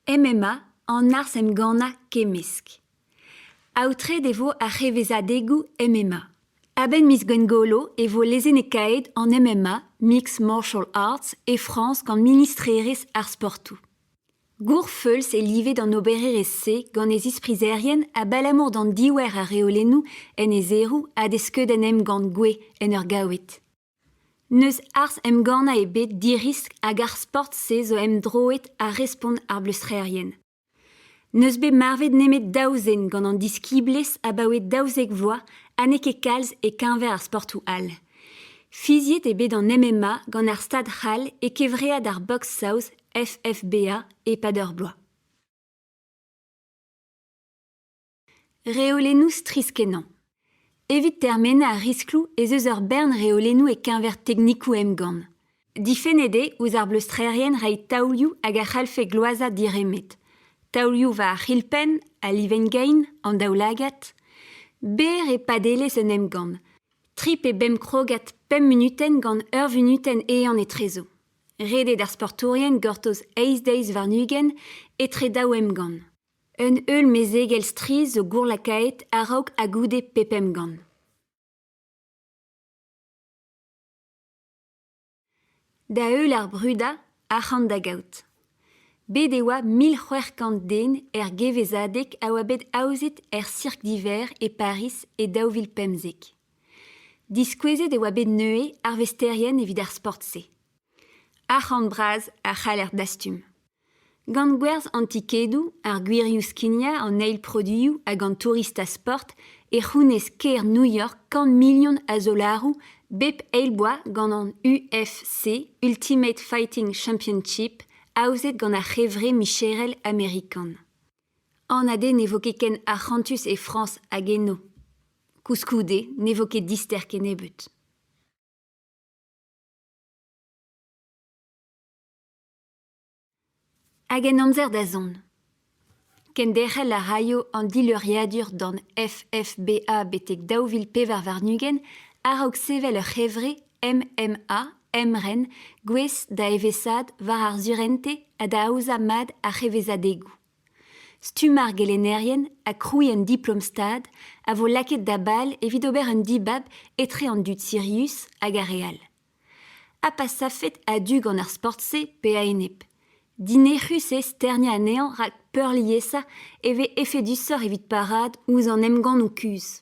MMA an arz emgannañ kemmesk. Aotret e vo ar c'hevezadegoù MMA. A-benn miz Gwengolo e vo lezennekaet an MMA Mixed Martial Arts e Frañs gant ministrerezh ar sportoù. Gourfeulz eo livet an obererezh-se gant e zisprizerien abalamour d'an diouer a reolennoù en e zeroù ha d'e skeudenn emgann Gwe en ur gaoued. N'eus arz emgannañ ebet diriskl hag ar sport-se zo emdroet ha respont ar bleustrerien. N'eus bet marvet nemet daou zen gant an diskiblezh abaoe daouzek vloaz ha n'eo ket kalz e-keñver ar sportoù all. Fiziet eo bet an MMA gant ar Stad c'hall e kevread ar boks saoz FFBA e-pad ur bloaz. Reolennoù strizh-kenañ. Evit termen ar riskloù ez eus ur bern reolennoù e-keñver teknikoù emgann. Difennet eo ouzh ar bleustrerien reiñ taolioù hag a c'hallfe gloazañ diremed. Taolioù war ar c'hilpenn, al livenn-gein, an daoulagad. Berr eo padelezh un emgann. Tri pe bemp krogad pemp munutenn gant ur vunutenn eeun etrezo. Redet ar sportourien gortoz eizh deiz warn-ugent etre daou emgann. Un heul mezegel strizh zo gourlakaet a-raok ha goude pep emgann. Da heul ar brudañ, arc'hant da gaout. Bet e oa mil c'hwec'h kant den er gevezadeg a oa bet aozet er Cirque d'hiver e Pariz e daou vil pemzek. Diskouezet e oa bet neuze arvesterien evit ar sport-se. Arc'hant bras a c'haller dastum. Gant gwerzh an tikedoù, ar gwirioù skignañ an eil produioù hag an tourista sport e c'hounez kêr New York kant milion a zolaroù bep eil bloaz gant an UFC Ultimate Fighting Championship aozet gant ar c'hevre micherel amerikan. Anat eo ne vo ket ken arc'hantus e Frañs hag eno. Koulskoude ne vo ket dister kennebeut. Hag en amzer da zont. Kenderc'hel a raio an dileuriadur d'an FFBA betek daou vil pevar warn-ugent a-raok sevel ur c'hevre MMA emren gouest da evesaat war ar surentez ha da aozañ mat ar c'hevezadegoù. Stumm ar gelennerien ha krouiñ un diplom-stad a vo lakaet da bal evit ober un dibab etre an dud sirius hag ar re all. Ha pa savfed a-du gant ar sport-se pe a-enep. Dinec'hus eo sterniañ anezhañ rak peurliesañ e vez efedusoc'h evit parraat ouzh an emgannoù kuzh.